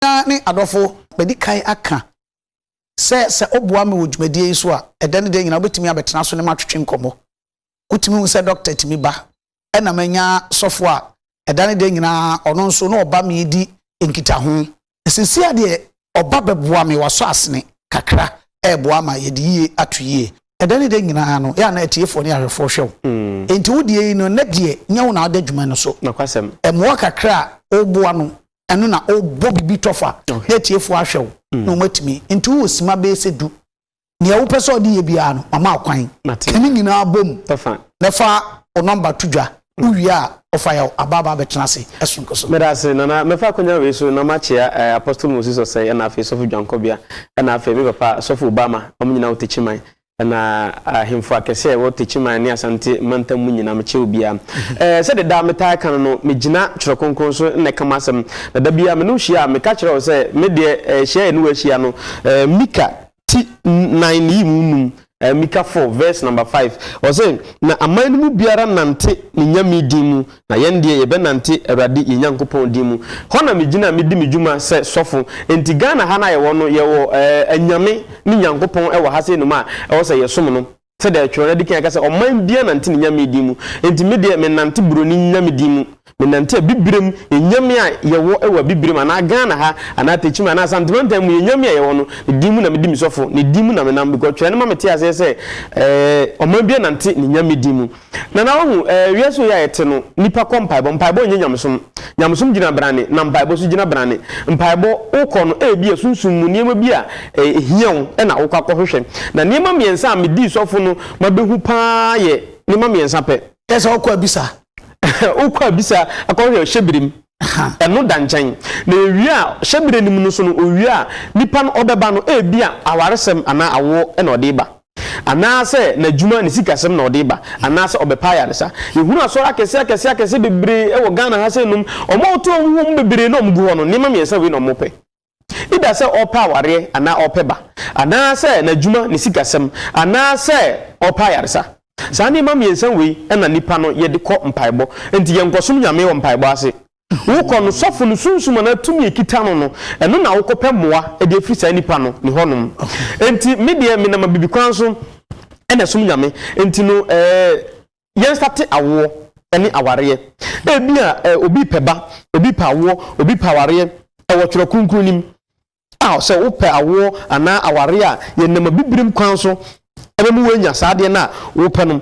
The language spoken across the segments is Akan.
Nua ne adɔfo, madi kan aka sɛ sɛ woboa me wɔ dwumadie yi so a, ɛdɛ ne dɛ nyinaa wobɛtumi abɛtena so ne me atwetwe nkɔmmɔ. Wotumi hu sɛ dɔkta tumi ba. Ɛna manya sɔfo a ɛda ne dɛ nyinaa ɔno nso na ɔba me di nkitaho. Seesei ara deɛ ɔba bɛboa me, wasɔ asene kakra reboa ama yɛde yie ato yie. Ɛda ne dɛ nyinaa no, yɛ a na atiefoɔ ne ahwɛfoɔ hwɛ wo. Enti wo deɛ yi no, nnɛ deɛ nyɛ wo na wode adwuma no so. Mmoa kakra a woboa no ɛno na ɔbɔ biribi tɔfa na atiefo ahwɛ wo mm. na wɔatumi nti wowɔ sima bɛyɛ sɛ du nea wopɛ sɛ ɔde yɛ biara no mama akwan ɛne nyinaa bom na fa wo nɔmba to dwa mm. wowie a ɔfa yɛ abaaba bɛtena ase ɛsonko so meda ase nana mɛfa akwanya wei so na makyea eh, apostle moses ɔsɛe ɛna afei sɔfo dwankɔbea ɛna afei me papa sɔfo obama ɔmo nyinaa wotekyi man Na ahemfo akɛse a ɛwɔ Techiman ne Asante mantam mu nyinaa, mekyɛ obiara. Sɛdeɛ daa metaa ka no no, megyina Twerɛ Kronkron so na ɛka m'asɛm. Na da biara me ne wo hyia a, meka kyerɛ wo sɛ, me deɛ, hyia a yɛne wo ahyia no, Mika ti nnan ne yi mu nnum, Mika four, verse number five, ɔse, Na aman no mu biara nnante ne Nyame din mu, Na yɛn deɛ yɛbɛnante Awurade yɛn Nyankopɔn din mu. Hɔ na megyina a medi me dwuma sɛ sɔfo. Enti Ghana ha no a yɛwɔ no, yɛwɔ anyame ne Nyankopɔn wɔ ha sei nom a ɛwɔ sɛ yɛsom no. Sɛdeɛ Twerɛ no adi kan ka sɛ, Ɔman biara nante ne nyame din mu. Enti me deɛ mennante buroni nyame din mu. Menante Abibirem nyame a yɛwɔ wɔ Abibirem anaa Ghana ha anaa Tekyima anaa Asante mantam mu yɛn nyame a yɛwɔ no, ne din mu na medi me sɔfo. Ne din mu na menam because Twerɛ no ma mete aseɛ sɛ Ɔman biara nante ne nyame din mu. Nana wahu eh wiase wei a yɛte no nipa kɔ mpaebɔ mpaebɔ nyɛ nyamesom nyamesom gyina brane na mpaebɔ so gyina brane mpaebɔ wokɔ no ebia sunsum mu nneɛma bi a ehia wo na wokɔ akɔ hwehwɛ na nneɛma mmiɛnsa a medii sɔfo no ma behu paa yɛ nneɛma mmiɛnsa pɛ. Kyerɛ sɛ wokɔ abisa. Wokɔ abisa akɔ hwehwɛ hyɛbire mu ɛno da nkyɛn na ewie a hyɛbire no mu no so no owie a nipa no ɔbɛba no ebia awaresɛm anaa awoɔ na ɔde ba. Anaasɛ n'adwuma, ne sikasɛm na ɔde ba, anaasɛ ɔbɛpa ayaresa. Yɛhunu asɔre akɛse akɛse akɛse bebree wɔ Ghana ha sɛ nom. Wɔn a wɔto wɔn ho wɔn mu bebree na wɔgu hɔ no, nneɛma mmiɛnsa wei na wɔpɛ. Either sɛ ɔrepɛ awareɛ anaa ɔrepɛ ba, anaasɛ n'adwuma, ne sikasɛm, anaasɛ ɔrepɛ ayaresa. Saa nneɛma mmiɛnsa wei na nnipa no yɛde kɔ mpaebɔ. Enti yɛnkɔsom Nyame wɔ mpaebɔ ase. Wokɔ no, sɔfo no sunsum anaa tumi a ekita no no, ɛno na wokɔpɛ mmoa de afiri saa nipa no ne hɔnom. Enti me deɛ, menam abibikwan so na ɛsom Nyame. Enti no, ɛɛ, yɛn nstate awoɔ ne awareɛ. Ebia, ɛɛ, obi repɛ ba, obi repɛ awoɔ, obi repɛ awareɛ, ɛwɔ Twerɛ Kronkron no mu a, sɛ wopɛ awoɔ anaa awareɛ a, yɛnam abibirem kwan so bɛma woanya saa adeɛ no a wopɛ no.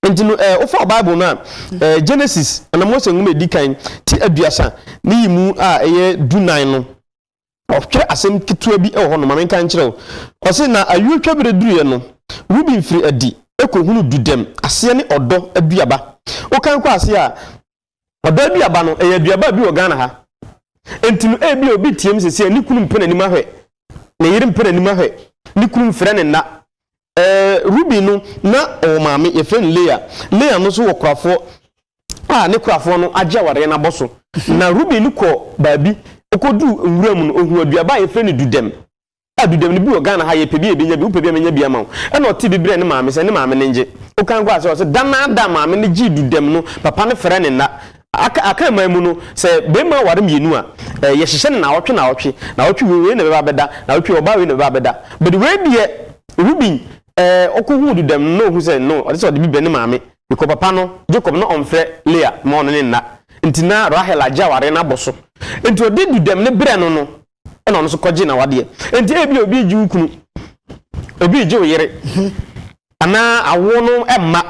Enti no, eh, wofa Bible no a, eh, Genesis, anaa Mose nwoma edi kan, ti aduasa ne yi mu a ɛyɛ dunan no, ɔtwerɛ asɛm ketewa bi wɔ hɔ no, ma menka nkyerɛ wo. Ɔse, na ayuotwa berɛ duruiɛ no, Ruben firi adi kɔhunu dudɛm aseɛ ne ɔdɔ aduaba. Wokan kɔ aseɛ a, Ɔdɔaduaba no, ɛyɛ aduaba a ebi wɔ Ghana ha. Enti no, ebia obi teɛm sɛ sɛ ne kunu mpɛ n'anim ahwɛ, ne yere mpɛ n'anim ahwɛ, ne kunu mfrɛ ne nna. Ɛɛ, Ruben no, na ɔwɔ maame, yɛfrɛ no Lea. Lea no nso wɔ korafoɔ a ne korafoɔ no agye awareɛ no abɔ so. Na Ruben no kɔɔ baabi, ɔkɔduu nwura mu no, ɔhuu aduaba a yɛfrɛ no dudɛm. Adudam no bi wɔ Ghana ha yɛpɛ bi a yɛbɛnya bi, wopɛ bi a mɛnya bi ama wo. Ɛna ɔtee bi brɛɛ ne maame sɛ ne maame no ngye. Okan kɔɔ ase hɔ sɛ da naa da a maame no gyee dudam no papa no frɛ ne nna. Aka Akan man mu no sɛ bɛɛma ware mmienu a, eh, yɛhyehyɛ no naawɔtwe naawɔtwe, naawɔtwe wei wei na ɛbɛba abɛda, naawɔtwe wei ɔbaa wei na ɛbɛba abɛda. But wei deɛ Rubin eh, ɔkɔ huu dudam no na ɔhu sɛ no, ɔde sɛ ɔde bi brɛ ne maame bikɔ papa no, Jacob, na ɔmfrɛ Leah ma ɔne ne nna. Nti na Rahel agye awareɛ no abɔ so. Nti ɔde dudam no brɛ no no, ɛna ɔno nso kɔgye n'awadeɛ nti ebi obi regye wo kunu obi regye wo yere anaa awoɔ no mma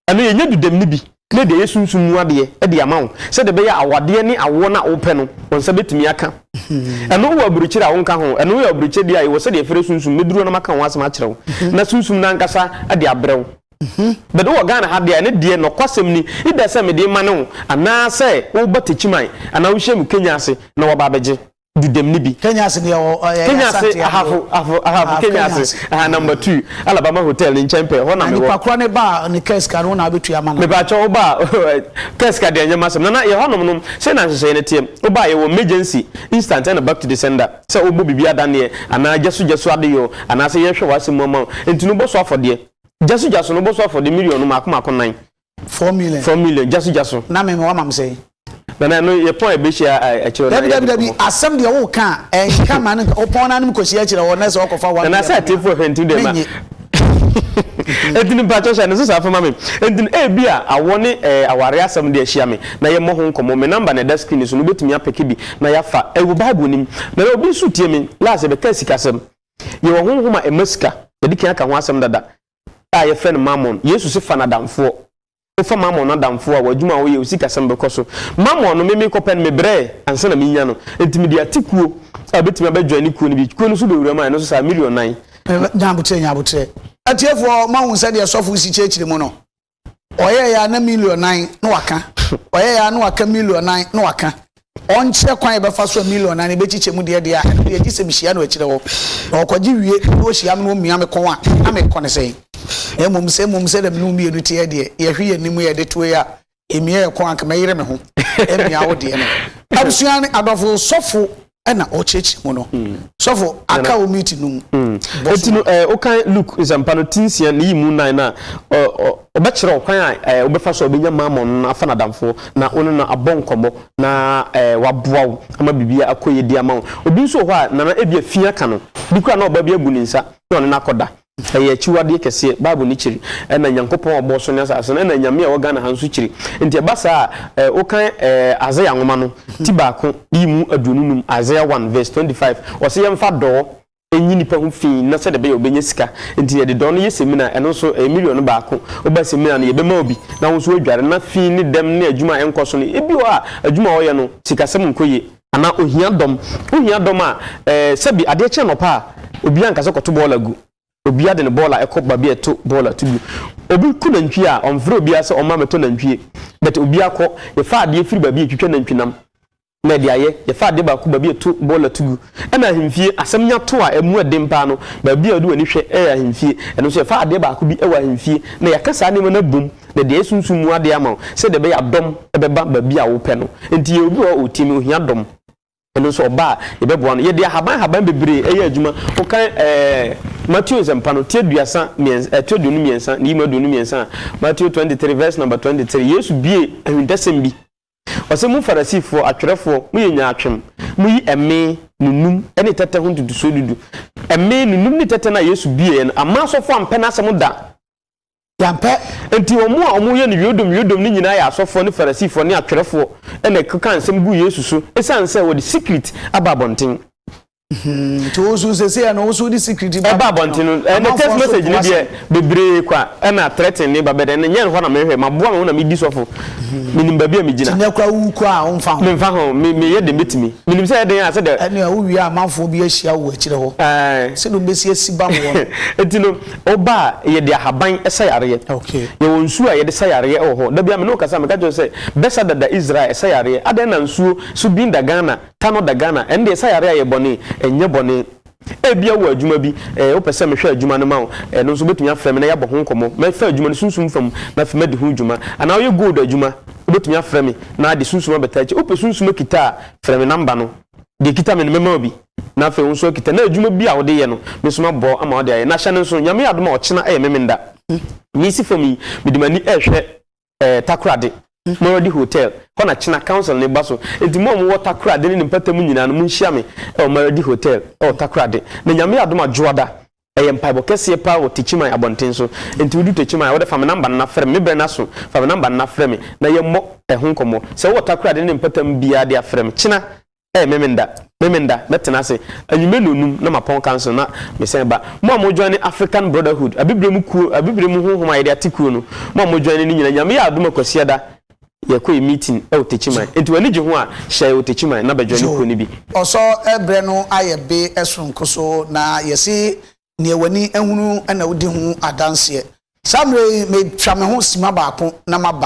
ɛno yɛnyɛ dudam no bi ne deɛ yɛ sunsum mu adeɛ ɛde ama wo sɛdeɛ ɛbɛyɛ awadeɛ ne awoɔ no a wopɛ no wɔn nsa bɛtumi aka ɛno wɔ aburukyire a wonka ho ɛno yɛ aburukyire deɛ a yɛwɔ sɛdeɛ ɛfrɛ sunsum mɛduru no maka ho asɛm akyerɛ wo na sunsum no ankasa de abrɛ wo Hmm. But wowɔ Ghana ha deɛ a, ɛno deɛ nɔkwasɛm ni, either sɛ mede ma ne wo, anaa sɛ woba Techiman, anaa wohyia me Kenya ase na waba abɛgye Dudem no bi. Kenya ase deɛ wɔ, ɛyɛ Kenya ase, Asante adeɛ. ahafo, ahafo, ahafo Ahafo Kenya Kenya ase, ase. aha, number two, Alabama Hotel no nkyɛn pɛɛ, hɔ na Na mewɔ. nipa korɔ no ba a, ne kaa sika no, wo na wobɛtua ama no? Mepaakyɛw, woba a, kaa sika deɛ ɛnyɛ m'asɛm. Nana, yɛ hɔnom no, sei na nhyehyɛeɛ no teɛ, woba a, yɛwɔ emergency, instant ɛna back to the sender, sɛ wobɔ biribi adanneɛ, anaa gyasu gyasu adeyɔ, anaa sɛ yɛhwɛ w'asɛm mu ama wo, enti no wobɛsɔ afɔdeɛ. Jasu jasu no boso afɔ de million no mako mako nan. Four million. Four million jasu jasu. Na me me wa mam sɛ. Nana ɛno yɛ pɔn ɛbɛhyia akyerɛ na yɛ dabi dabi asɛm deɛ wo ka a ɛnka ma no nka wopɔn no anom kɔhyia akyerɛ hɔ na sɛ wɔkɔfa wa nana sɛ atefoɔ hwɛ nti deɛ ma ɛntini mpakyɛ hyɛ ne so saa fama me ɛntini ɛbi a awɔ ne aware asɛm deɛ hyia me na yɛmmɔ ho nkɔmmɔ me namba na ɛda screen so no wobɛtumi apɛke bi na yɛafa ɛwɔ bible nim nana obi nso tie me laase bɛka sikasɛm Yɛwɔ honhom a ɛma sika. Yɛadi kan aka ho asɛm dada a yɛfrɛ no mammon. Yesu se fa no adamfoɔ. Wofa mammon no adamfoɔ a, w'adwuma a woyɛ, wo sikasɛm bɛkɔ so. Mammon no, me mekɔpɛ no, mebrɛɛ ansa na menya no. Enti mede ate kuo a ɛbɛtumi abɛjoine kuo no bi. Kuo no so bɛwura mu a, ɛno nso saa, million nan. Nya aboterɛ, nya aboterɛ. Atiefoɔ, moahu sɛdeɛ sɔfo si kyerɛkyerɛ mu no? ɔyɛɛ ya na million nan na waka ɔyɛɛ ya na waka million nan na waka ɔnkyerɛ kwan yɛbɛfa so a million nan ebekyikyɛ mu deɛ deɛ a ɛno deɛ gye sɛ mehyia no akyirɛ hɔ na ɔkɔgye wie na ɔhyia me na ɔmia me kɔn a na mekɔ ne sɛn na mmom sɛ mmom sɛ dɛm ne wo mmienu teɛ deɛ yɛhwe yɛ nim yɛde toe a ɛmia yɛ kɔn anka mɛyere me ho ɛmia wo deɛ no abusua ne adɔfo sɔfo ɛna ɔkyerɛkyerɛ mu no sɔfo aka wo mute no mu bɔ so. Eti no ɛɛ wokan Luke nsɛmpa no ti nsia ne yi mu nan na ɔ ɔ ɔbɛkyerɛ wo kwan a ɛɛ wobɛfa so a obenya Mammon no afa n'adamfo na wo ne no abɔ nkɔmmɔ na ɛɛ waboa wo ama biribi akɔ yie de ama wo. Obi nso wɔ hɔ a nana ebia fi aka no bi koraa na ɔba bi abu ne nsa na ɔne no akɔda Ɛyɛ akyiwadeɛ kɛseɛ. Bible no kyiri. Ɛna Nyankopɔn a ɔbɔɔ soro ne asase no, ɛna Nyame a ɛwɔ Ghana ha nso kyiri. Nti ɛba saa a, eh, wokan eh, Isaiah nwoma no, ti baako, yi mu aduonu num, Isaiah 1 verse 25, ɔse yɛmfa dɔɔ nyi nipa ho fii na sɛdeɛ ɛbɛyɛ ɔbɛnya sika. Nti yɛde dɔɔ no yɛ semina, ɛno nso ɛyɛ million baako. Woba semina no, yɛbɛma wo bi, na wo nso woadware, na fii ne dɛm ne adwuma a ɛnkɔ so no, ebi wɔ hɔ a, adwuma a ɔyɛ no, sikasɛm nkɔ yie. Anaa ohia dɔm. Wohia dɔm a, eh, sɛbi adeɛ kye anɔpa a, obiara nka sɛ kɔto bɔɔla gu. Obiara de ne bɔɔla kɔ baabi a yɛto bɔɔla to gu. Obi ku nantwie a, ɔmfrɛ obiara sɛ ɔmma mmɛtɔ nantwie, but obiara kɔ. Yɛfa adeɛ firi baabi a yɛtwitwa nantwinam na yɛde ayɛ. Yɛfa adeɛ baako baabi a yɛto bɔɔla to gu. Ɛna ahemfie, asɛm nya to a, ɛmu yɛ den paa no, baabi a wode w'ani hwɛ yɛ ahemfie. Ɛno nso, yɛfa adeɛ baako bi wɔ ahemfie na yɛaka saa nneɛma no abom Na deɛ ɛsunsum mu adeɛ ama wo, sɛdeɛ ɛbɛyɛ a dɔm bɛba baabi a wopɛ no. Enti yɛwɔ obi wɔ hɔ a ɔretie me, ɔhia dɔm. Ɛno nso ɔba a, yɛbɛboa no. Yɛde ahaban ahaban bebree yɛ adwuma. Wokan ɛɛ Mateo Nsɛmpa no, ti aduasa mmiɛnsa, ɛto aduonu mmiɛnsa, ne yimu aduonu mmiɛnsa a, Mateo twenty three verse number twenty three, Yesu bue ahintasɛm bi. Ɔse, Mo Farisifoɔ, atwerɛfoɔ, moyɛ nyaatwem. Moyi ɛme, nunum, ne tɛtɛ ho ntotosoɔ dudu. Ɛme, nunum, ne tɛtɛ no a Yesu bueeɛ no, amma asɔfoɔ ampɛ n'asɛm da. Yɛampɛ. Enti wɔn a wɔyɛ no yodom yodom no nyinaa yɛ asɔfoɔ ne Farisifoɔ ne atwerɛfoɔ na ɛkeka nsɛm gu Yesu so ɛsiane sɛ wɔde sikrit aba abɔnten. Nti wo nso sɛsei ɛno wo nso wode sikrit ba abɔnten no? Ɛnɛ text message no deɛ bebree kwa ɛna threaten ne ba bɛdɛ ne nyɛ hɔ na mehwɛ maboa me ho na medi sɔfo menim baabi a megyina. Nti nɛ kora wo kɔ a womfa ho? Memfa ho me meyɛ deɛ mɛtumi menim sɛ ɛdɛn a sɛdeɛ. Ɛne a wowie a amanfoɔ bi ahyia wo akyire hɔ sɛdeɛ wobɛsi asi ba woɔ no. Enti no. Ɔba a, yɛde ahaban sa yareɛ. Yɛwɔ nsuo a yɛde sa yareɛ wɔ hɔ. Da biara me ne wo kasa a, meka kyerɛ wo sɛ, bɛsa dada Israel, ɛsa yareɛ. Adɛn na nsuo, so bin da Ghana, tanɔ da Ghana? Ɛnde ɛsa yareɛ a ɛyɛ bɔne? Ɛnyɛ bɔne. Ebia wowɔ adwuma bi, eh, wopɛ sɛ mehwɛ adwuma no ma wo, ɛno nso wobɛtumi afrɛ me na yɛabɔ ho nkɔmmɔ. Mɛfa adwuma no sunsum fa mu na afei madi ho dwuma. Anaa woyɛ gold adwuma, wobɛtumi afrɛ me na de sunsum abɛtaa akyire. Wopɛ sunsum akita a, frɛ me namba no. Deɛ ɛkita me no, mɛma wo bi. Na afei wo nso akita na adwuma bi a wode yɛ no mesoma bɔ ama wode ayɛ na hyɛ no nso nyame yɛ adom a ɔkyena ɛyɛ memenda mesi fam yi mede mani rehwɛ ɛɛ takorade Moradi hotel hɔ na kyena council no ba so enti mo a mowɔ takorade ne ne mpatamu nyinaa no monhyia me ɛwɔ Maradi hotel ɛwɔ takorade na nyame yɛ adom a dwoada ɛyɛ mpaebɔ kɛseɛ paa wɔ Techiman abɔnten so enti wodu Techiman a wode fa me number no na frɛ me me berɛ no aso fa me number no na frɛ me na yɛmmɔ ɛho nkɔmmɔ sɛ wowɔ takorade ne ne mpatamu biara de a frɛ me kyena Ɛɛ, Memenda, Memenda, mɛtena ase anwummere nnɔnnum na mapɔn kanso no na mesan ba. Mo a mojoine African Brotherhood, Abibire mu kuo, Abibire mu honhom a yɛde ate kuo no, mo a mojoine no nyinaa, Nyame yɛ adom a Kwasiada yɛkɔ yɛ meeting wɔ Techiman. Enti w'ani gye ho a, hyɛ yɛn wɔ Techiman na bɛjoine kuo no bi. Ɔsɔ berɛ no ayɛ be soronko so na yɛse neɛ w'ani ahunu na wodi ho adanseɛ. Saa mmerɛ yi, metwa me ho sima baako na maba.